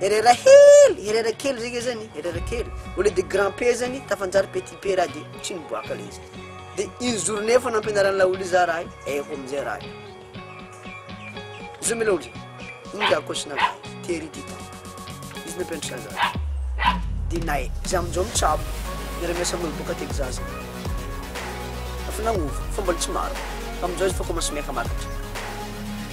Herera hely, herera kely zay zany, herera kely. Au lieu de grand P zany, tafanjary petit P raha de tsy niboaka le izy. De une journée efa nampianaran'ny laolo iza raha io, haiko amizay raha io. Zao mila ohatry, iny raha kosina raha io, tery ity tany. Izy nampianatra za zany. De nay, za amizao mitsabo, miara-miasa amin'olo boka Texas. Efa nagnova, fa mbola tsy maro. Amizao izy efa commence miaka-makatra.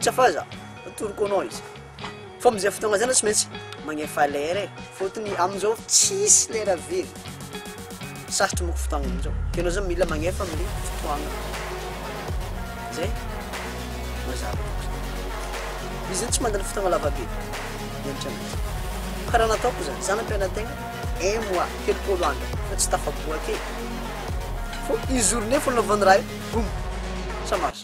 Tsy afaza atoroko anao izy fa amizay fotoagna zay anao tsy maintsy magnefa lera e, fôtony amizao tsisy lera very, sarotro manko fotoagna amizao ke anao zany mila magnefa amle fotoagna zay mazava loatra, izy zany tsy mandany fotoagna lava be miagnatra anazy, kara nataoko zany za nampianategna un mois telopôlo andro fa tsy tafaboaka e, fô une journée fô nanaovany raha io boum ça marche.